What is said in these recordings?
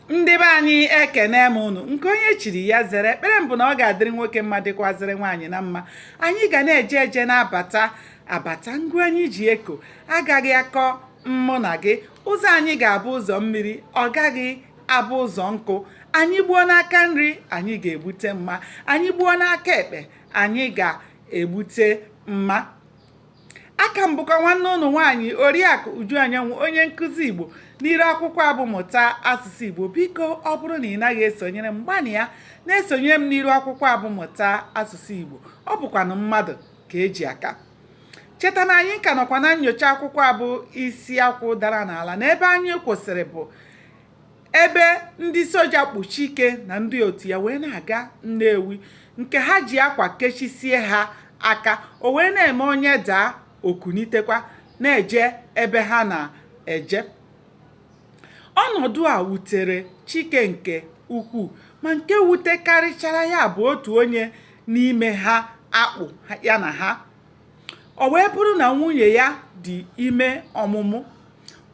ndị be anyị ekene m ụnụ nke onye chiri ya zere ekpere m bụ na ọ ga-adịrị nwoke mma dịkwazịrị nwaanyị na mma anyị ga na-eje eje na-abata abata ngụ anyị ji eko agaghị akọ mmụ na gị ụzọ anyị ga-abụ ụzọ mmiri ọ gaghị abụ ụzọ nkụ anyị gbuo n'aka nri anyị ga-egbute mma anyị gbuo n'aka ekpe anyị ga-egbute mma a ka m bụkwa nwanne ụnụ nwaanyị oriakụ uju anyanwụ onye nkụzi igbo n'iru akwụkwọ a bụ mụta asụsụ igbo biko ọ bụrụ na ị naghị esonyere m gbanịa na-esonyere m n'iru akwụkwọ a bụ mụta asụsụ igbo ọ bụkwanụ mmadụ ka e ji aka cheta na anyị ka nọkwa na nyocha akwụkwọ a bụ isi akwụ dara n'ala na ebe anyị kwụsịrị bụ ebe ndị soja kpụ Chike na ndị otu ya wee na-aga Nnewi nke ha ji akwa kechisie ha aka o wee na-eme onye daa o kunitekwa na-eje ebe ha na-eje ọnọdụ a wutere Chike nke ukwuu ma nke wutekarịchara ya bụ otu onye n'ime ha a kpụ ya na ha ọ wee bụrụ na nwunye ya dị ime ọmụmụ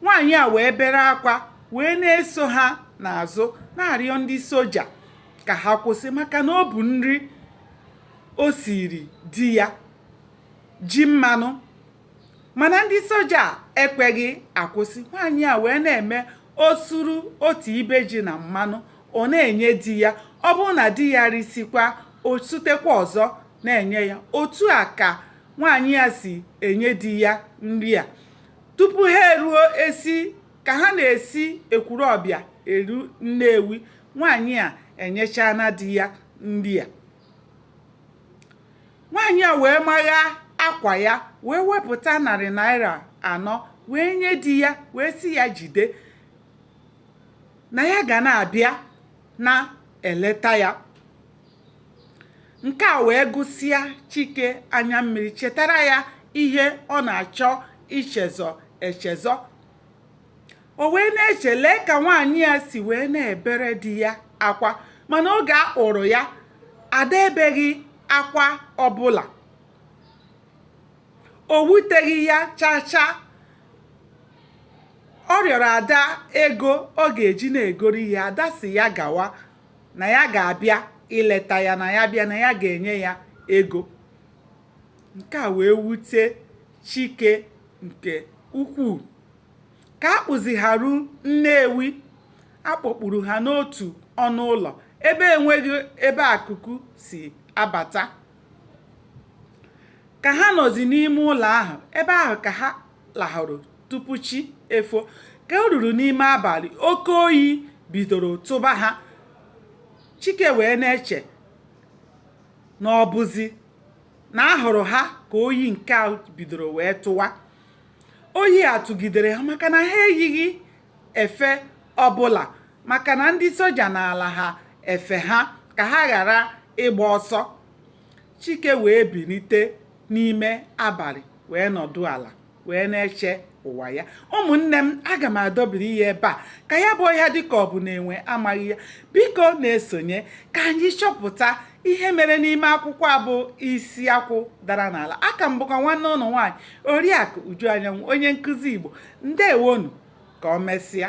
nwaanyị a wee bere akwa wee na-eso ha n'azụ na-arịọ ndị soja ka ha kwụsị maka na ọ bụ nri o siri di ya ji mmanụ mana ndị soja ekweghị akwụsị nwaanyị a wee na-eme o suru otu ibe ji na mmanụ ọ na-enye di ya ọ bụrụ na di ya risikwa o sutekwa ọzọ na-enye ya otu a ka nwaanyị a si enye di ya nri a tupu ha eruo esi ka ha na-esi Ekwulọbịa eru Nnewi nwaanyị a enyechana di ya nri a nwaanyị a wee magha akwa ya wee wepụta narị naira anọ wee nye di ya wee sị ya jide na ya ga na-abịa na-eleta ya nke a wee gụsịa chike anya mmiri chetara ya ihe ọ na-achọ ichezọ echezọ o wee na-eche lee ka nwaanyị a si wee na-ebere di ya akwa mana oge a kpụrụ ya ada ebeghị akwa ọbụla o wuteghị ya chaa chaa ọ rịọrọ ada ego ọ ga-eji na-egoro ihe ada sị ya gawa na ya ga-abịa ileta ya na ya bịa na ya ga-enye ya ego nke a wee wute chike nke ukwuu ka a kpụzi ha ru nnewi a kpọkpuru ha n'otu ọnụ ụlọ ebe enweghị ebe ikuku si abata ka ha nọzi n'ime ụlọ ahụ ebe ahụ ka ha lahụrụ tupu chi efo ka o ruru n'ime abalị oke oyi bidoro tụba ha chike wee na-eche na ọ bụzi na ahụrụ ha ka oyi nke a bidoro wee tụwa oyi a tụgidere ha maka na ha eyighị efe ọbụla maka na ndị soja naara ha efe ha ka ha ghara ịgba ọsọ Chike wee bilite n'ime abalị wee nọdụ ala wee na-eche ụwa ya ụmụnne m aga m adọbiri ya ebe a ka ya bụ ọhịa dịka ọ bụ na enwe amaghị ya biko na-esonye ka anyị chọpụta ihe mere n'ime akwụkwọ a bụ isi akwụ dara n'ala aka m bụkwa nwanne unu nwaanyị oriakụ uju anyanwụ onye nkụzi igbo ndewonu ka o mesịa